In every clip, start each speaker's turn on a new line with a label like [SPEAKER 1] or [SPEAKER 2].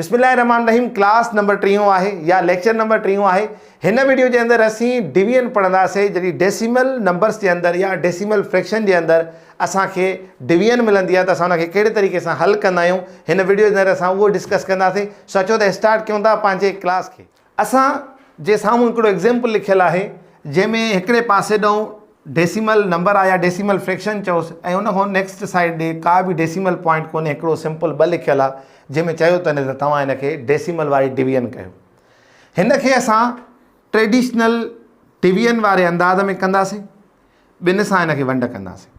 [SPEAKER 1] بسم الله الرحمٰن الرحيم ڪلاس نمبر ٽيون آهي يا ليڪچر نمبر ٽيون آهي هن ويڊيو جي اندر اسين ڊويزن پڙهنداسي جڏهن ڊيسيمل نمبرس جي اندر يا ڊيسيمل فريڪشن جي اندر اسان کي ڊويزن ملندي آهي ته اسان ان کي ڪهڙي طريقي سان حل ڪندا آهيون هن ويڊيو جي اندر اسان اهو ڊسڪس ڪنداسي سو اچو ته اسٽارٽ ڪيون ٿا پنهنجي ڪلاس کي اسان جي سامهون هڪڙو ايگزيمپل لکيل آهي جنهن ۾ هڪڙي پاسي ڏانهن ڊيسيمل نمبر آهي يا ڊيسيمل فريڪشن چئوس ۽ ان کان نيڪسٽ سائيڊ ڏي ڪا به ڊيسيمل پوائنٽ ڪونهي هڪڙو سمپل ٻه لکيل آهي جنهن ۾ چيو تنهن ته توهان هن کي ڊيسيمل واري ڊويزن ڪيو هن کي اسان ٽريڊيشنل ڊويزن واري انداز ۾ ڪنداسين ٻن سان هن کي ونڊ ڪنداسين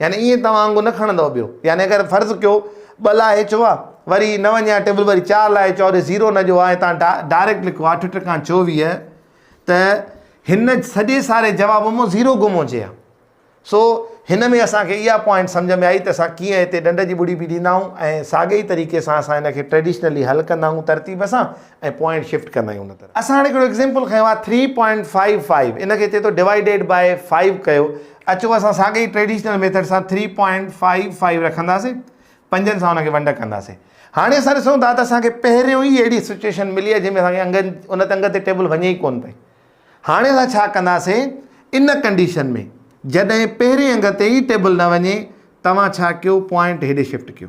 [SPEAKER 1] يعني ائين توهان آنگو نه کڻندؤ ٻيو يعني اگر فرض ڪيو ٻه لاء چو آ وري نه وڃي آ ٽيبل وري چار لاء چو آ زيرو نه جو آ ۽ تان ڊائريڪٽ لکو آ اٺ ٽڪان چوويهه ته هن سڄي ساري جواب مون زيرو گم هجي آ سو هن ۾ اسان کي اها پوائنٽ سمجھ ۾ آئي ته اسان ڪيئن هتي ڏنڊ جي ٻڙي بي ڏيندا آهيون ۽ ساڳي ئي طريقي سان اسان هن کي ٽريڊيشنلي حل ڪندا آهيون ترتيب سان ۽ پوائنٽ شفٽ ڪندا آهيون ان طرح اسان هاڻي هڪڙو ايگزامپل کنيو آهي ٿري پوائنٽ فائيو فائيو ان کي چئي ٿو ڊوائيڊيڊ بائي فائيو ڪيو اچو اسان ساڳئي ئي ٽريڊيشنل ميٿڊ سان ٿري پوائنٽ فائيو فائيو رکنداسين پنجن سان ان کي ونڊ ڪنداسين هاڻي اسان ڏسون ٿا ته اسان کي پهريون ئي اهڙي سچويشن ملي آهي جنهن ۾ اسان کي انگ ان انگ تي ٽيبل وڃي ئي ڪونه پئي هاڻي اسان ڇا ڪنداسين ان ڪنڊيشن ۾ جڏهن پهرين انگ تي ئي ٽيبل نه وڃي توهان ڇا ڪيو پوائنٽ هيڏي شفٽ ڪيو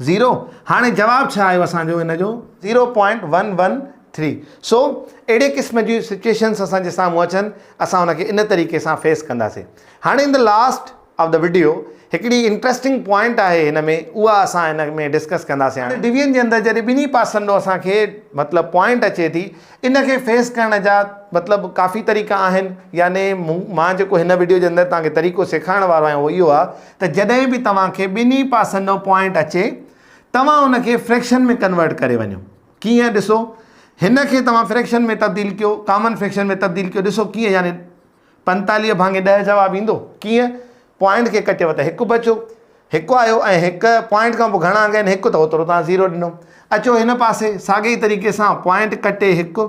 [SPEAKER 1] زيرو هاڻي جواب ڇا آيو اسان جو ان جو zero point one one three سو اهڙي قسم جون سچويشنس اسان جي سامهون اچن اسان ان کي ان طريقي سان فيس ڪنداسين هاڻي ان لاسٽ آف د ويڊيو هڪڙي انٽرسٽنگ پوائنٽ آهي هن ۾ اها اسان هن ۾ ڊسڪس ڪنداسين هاڻي ڊويجن جي اندر جڏهن ٻنهي پاسن ڏو اسان کي مطلب پوائنٽ اچي ٿي ان کي فيس ڪرڻ جا مطلب ڪافي طريقا آهن يعني مان جيڪو هن ويڊيو جي اندر تان کي طريقو سيکارڻ وارو آهيان اهو اهو آهي ته جڏهن به توهان کي ٻنهي پاسن ڏانهن پوائنٽ اچي توهان ان کي فريڪشن ۾ ڪنورٽ ڪري وڃو ڪيئن ڏسو هن کي توهان فريڪشن ۾ تبديل ڪيو ڪامن فريڪشن ۾ تبديل ڪيو ڏسو ڪيئن يعني پنتاليهه ڀاڱي ڏهه جواب ايندو ڪيئن پوائنٽ کي ڪٽيو ته هڪ بچو هڪ آيو ۽ هڪ پوائنٽ کان پوء گهڻا انگ آهن هڪ ته اوترو توهان زيرو ڏنو اچو هن پاسي ساڳي طريقي سان پوائنٽ ڪٽي هڪ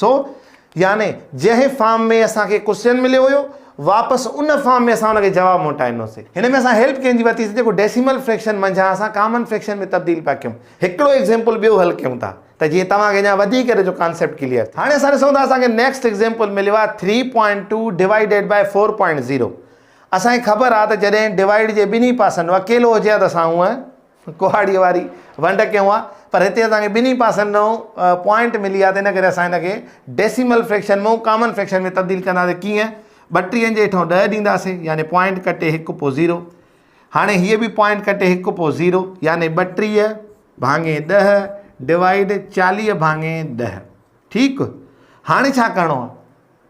[SPEAKER 1] سو يعني جنهن فارم ۾ اسان کي ڪوسچن مليو هيو واپس ان فارم ۾ اسان ان کي جواب موٽائينداسين. هن ۾ اسان هيلپ ڪنهن جي ورتي سي جيڪو ڊيسيمل فريڪشن منجهان اسان ڪامن فريڪشن ۾ تبديل پيا ڪيون. هڪڙو ايگزيمپل ٻيو حل ڪيون ٿا ته جيئن توهان کي اڃان وڌيڪ ان جو ڪانسيپٽ ڪليئر ٿئي. هاڻي اسان ڏسون ٿا اسان کي نيڪسٽ ايگزيمپل مليو آهي three point two divided by four point zero اسان کي خبر آهي ته جڏهن ڊوائيڊ جي ٻنهي پاسن اڪيلو هجي ها ته اسان هونئن ڪهاڙيء واري ونڊ ڪيون آ پر هتي اسان کي ٻنهي پاسن ڏانهن پوائنٽ ملي آ ته ان ڪري اسان هن کي ڊيسيمل فريڪشن مان ڪامن فريڪشن ۾ تبديل ڪنداسين ڪيئن ٻٽيهن جي هيٺان ڏهه ڏينداسين يعني پوائنٽ ڪٽي هڪ پوء زيرو هاڻي هيء به پوائنٽ ڪٽي هڪ پوء زيرو يعني ٻٽيهه ڀاڱي ڏهه ڊوائيڊ چاليهه ڀاڱي ڏهه ٺيڪ هاڻي ڇا ڪرڻو آ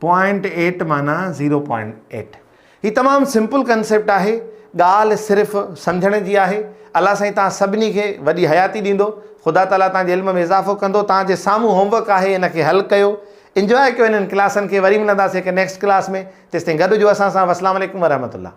[SPEAKER 1] پوائنٽ ايٽ معنيٰ زيرو پوائنٽ ايٽ هي تمام سمپل ڪنسيپٽ آهي ڳالهه صرف سمجهڻ جي آهي الله سائين تان سڀني کي وڏي حياتي ڏيندو خدا تعالي تان جي علم ۾ اضافو ڪندو تان جي سامهون هوم ورڪ آهي ان کي حل ڪيو انجوائي ڪيو انهن ڪلاسن کي وري ملنداسي هڪ نيڪسٽ ڪلاس ۾ تيستائين گڏ هجو اسان سان وسلام عليڪم ورحمة الله.